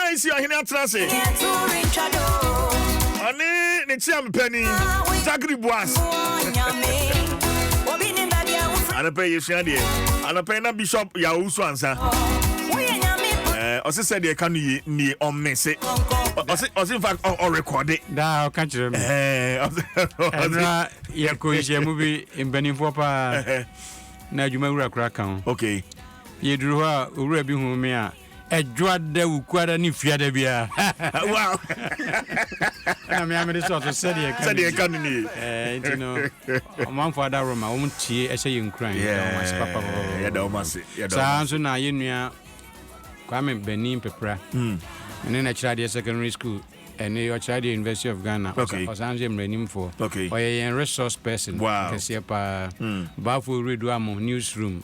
Ɔbaa Isi ahene atenase. Ɔne ne kyeamepani Zachary Boas. Anɔpɛ yi yɛsua deɛ. Anɔpɛ yi na Bishop Yao so ansa. Ɛɛ ɔsi sɛ deɛ ɛka no yie nie ɔmmese. Ɔ- Ɔsi ɔsi nfa ɔ- ɔrekɔde. daa ɔka kyerɛ me Ɛɛ ɔsi ɛnora yɛkɔ nhyiamu bi mpanimfoɔ paa na adwuma wura kora ka ho okay. yɛduru hɔ a owura bi hu me a Ɛdwoada, Wukuada ne Fiada biara. Wow! Ɛna me a mede sɔ so sɛdeɛ ɛka Sɛdeɛ ɛka no nie. Eh, nti no, ɔmanfo adaworo ma wɔn tie ɛhyɛ yɛn nkuran. Yɛda wɔn ase papa papa. Yɛda wɔn ase. Yɛda wɔn Saa ase. nso na yɛn nua Kwame Bani Mpepra. Mm. ne na Kyerɛadeɛ Secondary School ɛne Ɔkyerɛadeɛ University of Ghana. Ɔsa- Okay. Ɔsan nso yɛ mmaranimfoɔ. Okay. Ɔyɛ yɛn resource person Wow. kɛseɛ paa. Mm. Baafo Redu Amo Newsroom.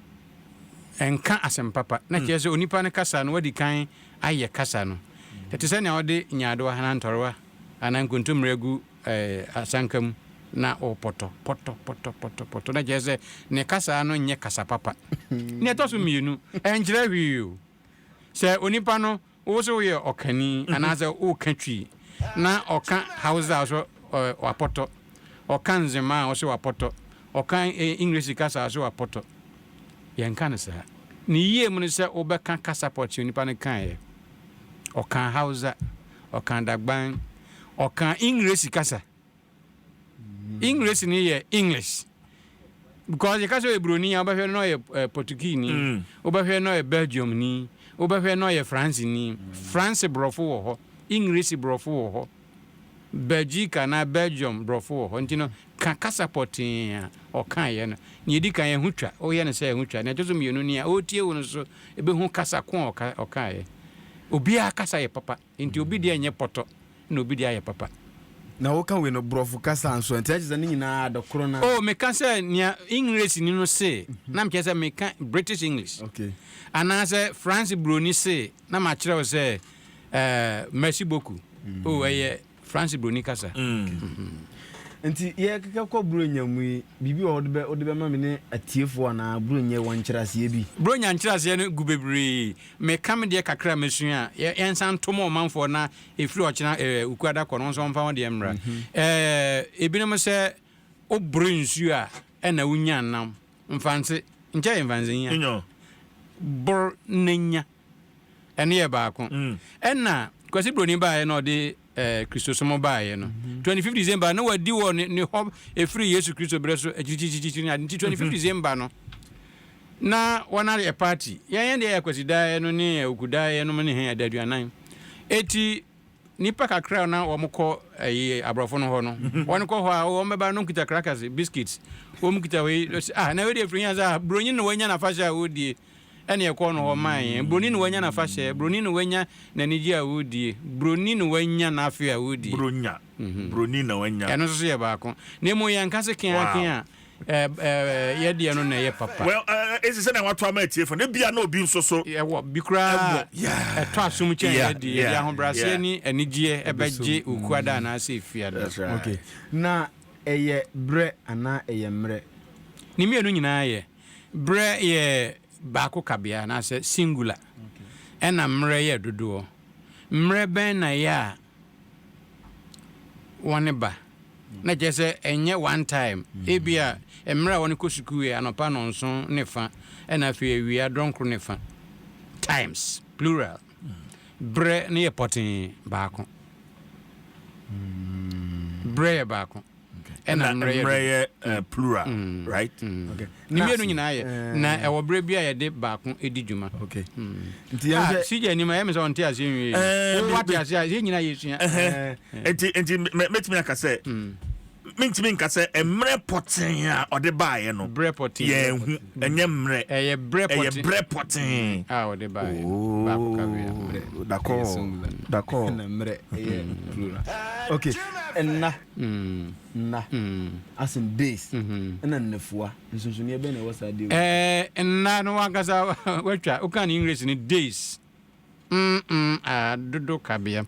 Ɛnka asɛm papa. Na kyerɛ sɛ onipa no kasa no wadi kan ayɛ kasa no. Ɛte sɛ nea wode nyaadowa anaa ntɔrewa anaa nkontommire agu asanka mu na wopɔtɔ, pɔtɔ, pɔtɔ, pɔtɔ, pɔtɔ. Na kyerɛ sɛ ne kasa no nyɛ kasa papa. Nea ɛtɔ so mmienu, ɛnkyerɛ hwee o. Sɛ onipa no Wo so woyɛ ɔkani anaasɛ woka Twi na ɔka Hausa a wo so wapɔtɔ, ɔka Nzema a wo so wapɔtɔ, ɔka English kasa a wo so wapɔtɔ. Yɛnka no saa. Ne yie mu ne sɛ wobɛka kasa pɔtee a onipa no kaeɛ. Ɔkaa Hausa, ɔkaa Dagban, ɔkaa English kasa. English no yɛ English because yɛka sɛ ɔyɛ buroni a wobɛhwɛ no na ɔyɛ eh, Portuguese-ni mm. wobɛhwɛ na ɔyɛ Belgium-ni wobɛhwɛ na ɔyɛ France-ni France borɔfo wɔ hɔ English borɔfo wɔ hɔ Belgique anaa Belgium borɔfo wɔ hɔ nti no ka kasa pɔtee a ɔkaeɛ no nea ɛdi kan ɛho twa woyɛ no sɛ ɛho twa nea ɛtɔ so mmienu ni a ɔretie wo no so ɛbɛhu kasa ko a ɔkaeɛ obiara kasa yɛ papa Enti obi deɛ nyɛ pɔtɔ na obi deɛ ayɛ papa. Na wo ka wei no brɔfo kasa nso ɛ, nti na kyesɛ ne nyinaa adɔ koro na. Oh me ka sɛ nea Engresi ni no see na me kyerɛ sɛ me ka British English. Okay. Anaasɛ France broni see na ma kyerɛ wo sɛ eh merci beaucoup. Oh ɛyɛ France broni kasa. Okay. Nti yɛ keka kɔ Buronya mu yi, biribi wɔ hɔ wode bɛ wode bɛma me ne atiefo anaa Buronya wɔ nkyerɛaseɛ bi? Buronya nkyerɛaseɛ no gu bebree. Meka me deɛ kakra a masua a, yɛnsan nto ma ɔmanfoɔ na ɛfiri ɔkyena Wukuada kɔ no, wo nso wɔmfa wo deɛ mmra. Ebinom sɛ woboro nsuo a ɛna wonya nam. Mfanse, nkyɛ yɛ mfanse nya. Boro na nya. Ɛno yɛ baako. Ɛna Kwasi Broni baeɛ na ɔde eh, Kristosom baeɛ no. 25 mhm. December na wadi wɔ ne, ne hɔ ɛfiri Yesu Kristo berɛ so akyirikyirikyirikyiri ne ade nti 25 December no na wɔn ayɛ party yɛn yɛn deɛ yɛ akwasidaeɛ no ne awukudaeɛ no ne hɛn ɛda aduanan ɛti nipa kakra na wɔn kɔ ɛyi eh, aborɔfo no hɔ no mhm. wɔn kɔ hɔ a wɔn bɛba no kita crackers biscuits wɔn kita wei ah na wei deɛ firi yɛn sɛ ah, buronyi na wɔanya n'afahyɛ a wɔredie ɛne ɛkɔɔ no hɔ maa yɛn. Buroni na wanya n'afahyɛ, buroni na wanya n'anigye a ɔredie, buroni na wanya n'afe a ɔredie. Buronya, buroni na wanya. Ɛno nso so yɛ baako. Na mmom yɛnka se keaken a, yɛ deɛ no na ɛyɛ papa. Well, ɛsi sɛnea wɔato ama atiefo no, ebia na obi nso so. Ɛwɔ bi koraa a ɛtɔ asom kyɛn yɛ deɛ, yɛde ahobrɛaseɛ ne anigyeɛ ɛbɛgye okuada anaasɛ efiada. Okay, na ɛyɛ berɛ anaa ɛyɛ mmerɛ? Ne mmienu nyinaa yɛ. Berɛ yɛ baako kabea anaasɛ singular ɛna mmerɛ yɛ dodoɔ. Mmerɛ bɛn na ɛyɛ a wɔn ba? Na kyerɛ sɛ ɛnyɛ one time. Ebia mmerɛ a wɔn kɔ sukuu yɛ anɔpa nnɔnson ne fa ɛna afei awia dɔnkoro ne fa. Times, plural. Berɛ no yɛ pɔtee, baako. Berɛ yɛ baako. ɛna mmerɛ yɛ plural right okay ne mmienu nyinaa yɛ na ɛwɔ berɛ bi a yɛde baako di dwuma okay nti yɛn hwɛ sigya anim a yɛmɛ sɛ ɔnte aseɛ nwie wo wate aseɛ a yɛn nyinaa yɛsua nti nti mɛtumi aka sɛ mentumi nka sɛ mmerɛ pɔtee a ɔde baeɛ no yɛn ho ɛnyɛ mmerɛ ɛyɛ berɛ pɔtee a ɔde baeɛ dakɔ dakɔ okay ɛna Nna, as in days, ɛnna nnafua. Nsonsonoeɛ bɛn na ɛwɔ saa deal yi mu? Ɛɛ, nna no w'ankasa w'atwa, woka no English no days, mm-mm, ah, dodo kabea.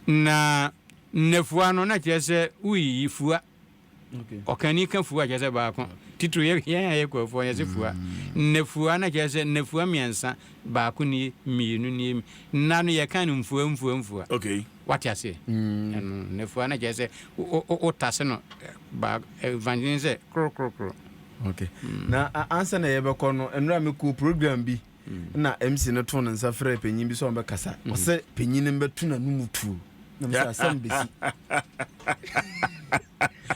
Na nnafua no na kyerɛ sɛ woyiyi fua. Ɔkani ka fua kyerɛ sɛ baako. Titiriw yɛ, yɛn a yɛ Kurofoɔ yɛse fua. Nnafua na kyerɛ sɛ nnafua mmiɛnsa, baako nie, mmienu nie. Nna no yɛka no mfua mfua mfua. Okay. Wate aseɛ? Ɛno nnafua no kyerɛ sɛ wo tase no baako, evangelism sɛ koro koro koro. Okay. Na ansa na yɛbɛkɔ no, nnora me kɔɔ program bi, na MC no too ne nsa frɛɛ panyin bi sɛ ɔmbɛkasa. Ɔsɛ panyin no mbɛto n'anomu tuo. Na me sɛ asɛm bɛsi.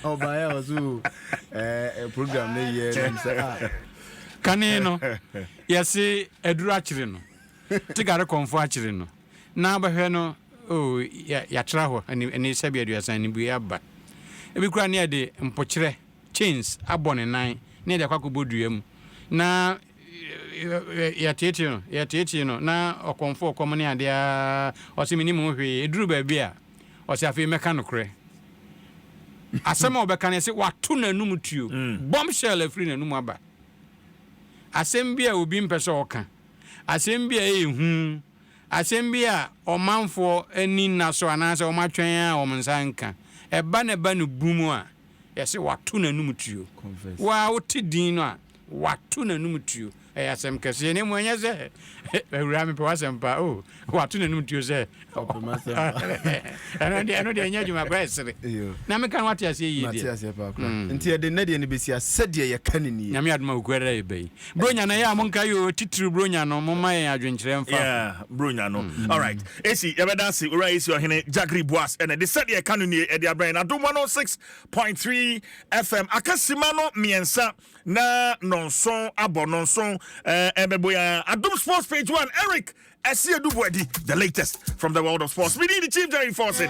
Ɔbaeɛ a ɔsɛ o, ɛɛ program no yɛ na me sɛ ah. Kane no, yɛse aduru akyere no, te gare kɔmfo akyere no. Na wobɛhwɛ no, oh, yɛ, yɛatra hɔ ani, ani sɛbe aduasa, anibuei aba. Ebi koraa ne yɛde mpokyerɛ, chains, abɔ ne nan, ne yɛde akɔ akɔbɔ dua mu, na yɛ, yɛteetee no, yɛteetee no, na ɔkɔmfo ɔkɔm ne ade ara, ɔse, Mennim ho hwee. Eduruu baabi a, ɔse, Afei mɛka nokorɛ. Asɛm a ɔbɛka no, ɛse, Wɔato n'anom tuo. Bombshell afiri n'anom aba. Asɛm bi a obi mpɛ sɛ ɔka. Asɛm bi a ɛyɛ hu. Asɛm bi a ɔmanfoɔ ani nna so anaasɛ wɔatwɛn a wɔn nsa renka, ɛba na ɛba no bum a, yɛse wɔato n'anom tuo. Wo ara wote din no a, wɔato n'anom tuo. Ɛyɛ asɛm kɛseɛ. Na mmom ɛnyɛ sɛ, Awuraa mepɛ w'asɛm paa. Oh, wɔato n'anom tuo sɛ ɔpɛ m'asɛm paa. Ɛno deɛ, ɛno deɛ ɛnyɛ adwuma koraa, ɛsere. Na meka no woate aseɛ yie deɛ? Mate aseɛ paa koraa. Nti yɛde nnɛ deɛ no bɛsi a, sɛdeɛ yɛka no nie. Nyame adom a, Okuada da yɛba yi. Bronya no ɛyɛ mo nka yoo titiriw Bronya no mo ma yɛn adwenkyerɛ mfa ho. Yeah, Bronya no. Mm. All right. Esi yɛbɛda ase owura esi ɔhene Jagri Boas ɛna de sɛdeɛ ɛka no nie ɛde abrɛn na dom 106.3 FM akasima no mmiɛnsa na nɔnson abɔ nɔnson ɛbɛbɔ ya adom sports page one Eric ɛsi edubu ɛdi the latest from the world of sports. Mini the chief Jerry Forson.